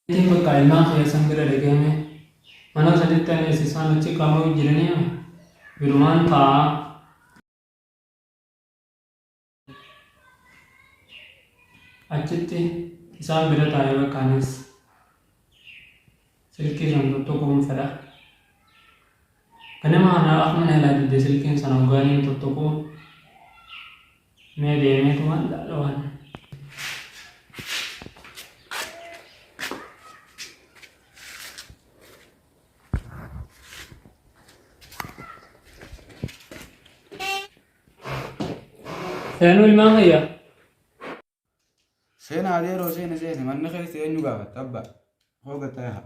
Tii bakkaa ilmaan kiyya san bira dhaqee mee manaa sanitti ani esi isaan achi kaamuu jiranii ame birumaan taa'aa achitti isaan bira taa'ee bakka anis silkii san tokkoon fedha ganama anaa akmana ilaa didde silkiin san hoggaaniin tokkoon Mee deemee tumaan laala waan. Seenuu ilmaan kiyya. Seena adeeroo seena seena manni keessa eenyu gaafatta abba hooga ta'e haa.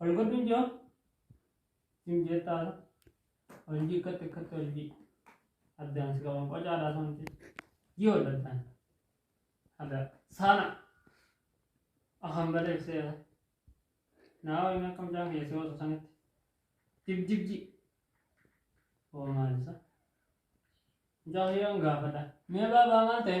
Ol godhuun jiru hin jettaadha. Ol jikkatti akkatti ol jii. Addaan si qaban qocaadhaa santi. Jii ol addaan. Adda saana. Akan baleef seera. Naa waliin akka mucaan kiyya si hosu sanitti. Jib jib jii. Oo maal isa? Mucaa kiyyaan gaafadha. Mee baabaa maal ta'e?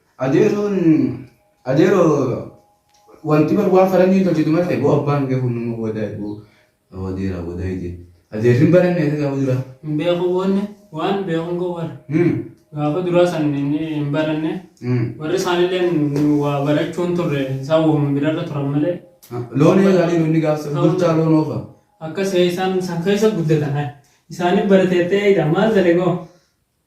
Adeeroon adeeroo wanti bar waan faranjiin tolchitu malee boo abbaan kee kun nama wadaay boo adeeraa wadaay jee adeerri hin baranne isa gaafa duraa. Hin beeku wanni waan beekun koo bar. Hmm. Gaafa duraa san hin hin baranne. Hmm. Warri isaanillee nu waa barachuun turre isaan waamma birarra turan malee. Loon eegaa jiru inni gaafa sana bulchaa loon oofa. Akkas isaan san keessa guddatan. Isaanii barateettee eeyda maal dalegoo?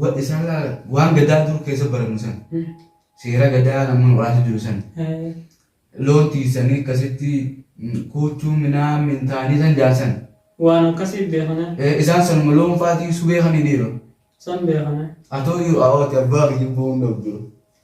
Wa- isaan laala waan gadaa dur keessa barannu san seera gadaa namoonni waraansa jiru san loon tiisanii akkasitti mm, kuuchuu minaa mintaanii san jaarsan Waan akkasii beekana. Eh, isaan sanuma loon faatii subee kan hidhiiru San beekana. atoo jiru awaati abbaa kiyya boon dhabdu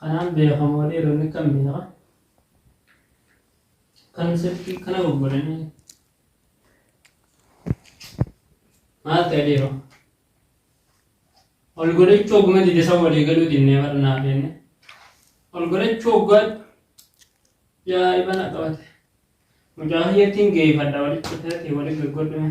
Kanaan beekamoo dhiironni kan biraa kan sirkii kana gurguranii maal ta'e dhiiroo? Ol godhachuu oguma dide san walii galuu dinnee barnaa feenne. Ol godhachuu oggaa jaa'iba na qabate. Mucaa hiyyattiin geeffadha walitti fudhatee walitti gurgurdhime.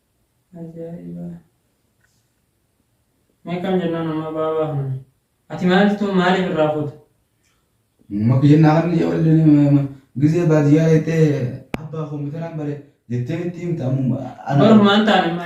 Ajaa'iba. Meeqam jennaan amma baabaa kana. Ati maaltu maaliif irraa fuuta? Maki jennaa kan yoo illee gizee baadiyyaa jettee abbaa kompiitaraan bare jettee itti himta ammoo Boru maan taane amma.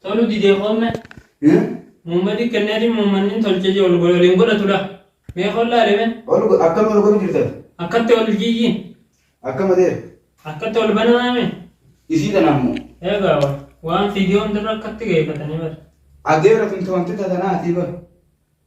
Tolu didee homme. Mummadi kenneeti mummanni tolche je ol godhe ol hin godhatu dha. Mee ol laale mee. Ol go- akkam ol godhu jirtan? Akkatti ol jiyyi. Akkam adeer? Akkatti ol banamaa mee. Isii tana ammoo. Eegaa wa- waan fiidiyoo hundarra akkatti geeffatanii bara. Adeera tun tawantita tanaatii bar.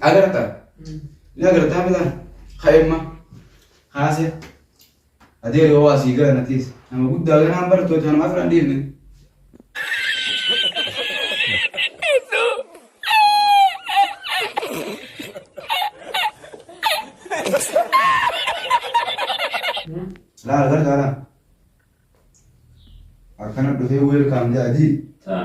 Agarta. Ni agartaa bitaan. Ka'imma. Kaase. Adeeri hoo asii gara natiis. Nama guddaa ganaan barattoota kana maaf irraan dhiifne. Laala gargaara. Akkana dhufee weelkaam jedha adii. Taa.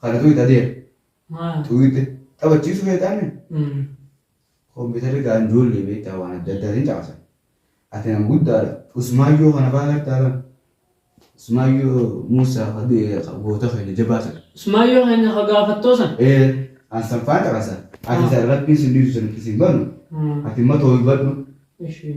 Kana tuwit adeera. Maal? Tuwite taphachiisu feetaame. Mm. Kompiitarri gaa ijoollee beektaa waan adda addaatiin caqasan. Ati nama guddaadha. Usmaayyoo kana fa'aa gartaa lama. Usmaayyoo Muusaa ka du'e ka goota keenya jabaa sana. Usmaayyoo keenya ka gaafattoo san. Ee an san fa'aa caqasa. Ati Ah. san rabbiin sin dhiisu san itti sin banu. Mm. Ati immoo too hubadhu. Ishii.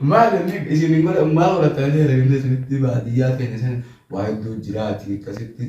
Maal inni isin hin godhan maa horatanii herreegni isinitti baadiyyaa keenya sana waa hedduu jiraati akkasitti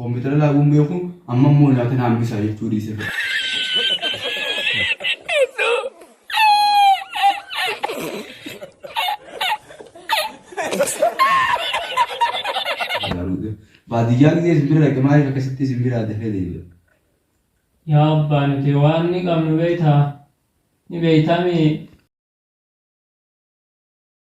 Koompitara laaguu hin beeku amma immoo nyaata na hambisa jechuu dhiise. Baadiyyaa gisee isin bira dhaqe maaliif akkasitti isin biraa dafee deebi'a? Yaa abbaa nuti waan ni qabnu beektaa? Ni beektaa mee?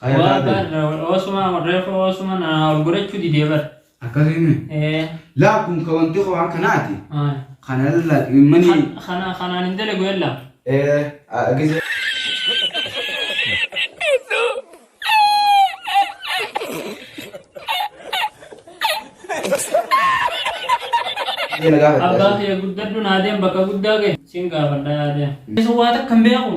Kaya Waa taate. bar osuma reefu osuma na ol godhachuu didee bar. Akkasii mi? Ee. Laa kun ka wanti koo waan kanaati. Ay. Kana irraa ximmanii. Kan kana kanaan hin dalagu yalla. Ee a- gisee. Ee, na gaafadha. Abbaa kiyya guddadhu naa deem bakka guddaa ga'e. Siin gaafadha yaa deem. Isa waa takka hin beeku.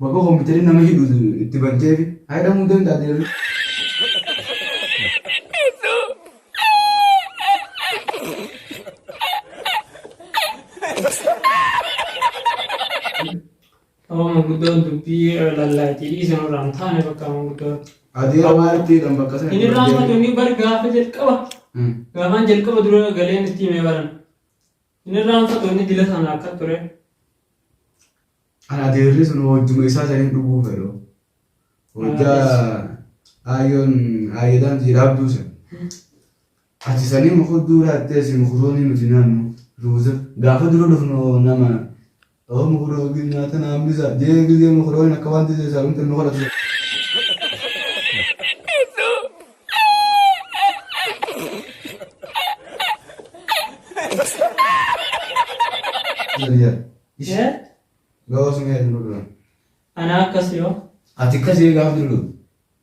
Baga kompiitari nama hidhu itti banteefi. Haa hidhamuu danda'a deemee. Amma manguddoon dubbii lallaati dhiisa nurraa hin taane bakka manguddoon. Adeera maalitti hidhan bakka sana. Inni irraa hafatu inni bar gaafa jalqaba. Gaafaan jalqaba dura galeen itti himee baran. Hin irraanfatu inni dila sana akka ture. Ana adeerri sun hojjuma isaa saniin dhuguu fedhu. Hojjaa aayyoon aayyoodhaan jiraabduu san. Ati sanii mukudduu laattee si mukuroonni nuti naannu ruuza. Gaafa dura dhufnu nama Awa mukura wajjin nyaata na hambisa. Jee gizee mukuroonin akka waan tizee isaa miti nu kadhatu. Jariya. Ishee Gawa sun yaa jiru dura. anaa akkas yoo Ati kasi gaaf jiru.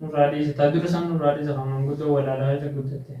Nurraa dhiisa. Ta dura san nurraa dhiisa kan manguddoo walaalaa irra guddatte.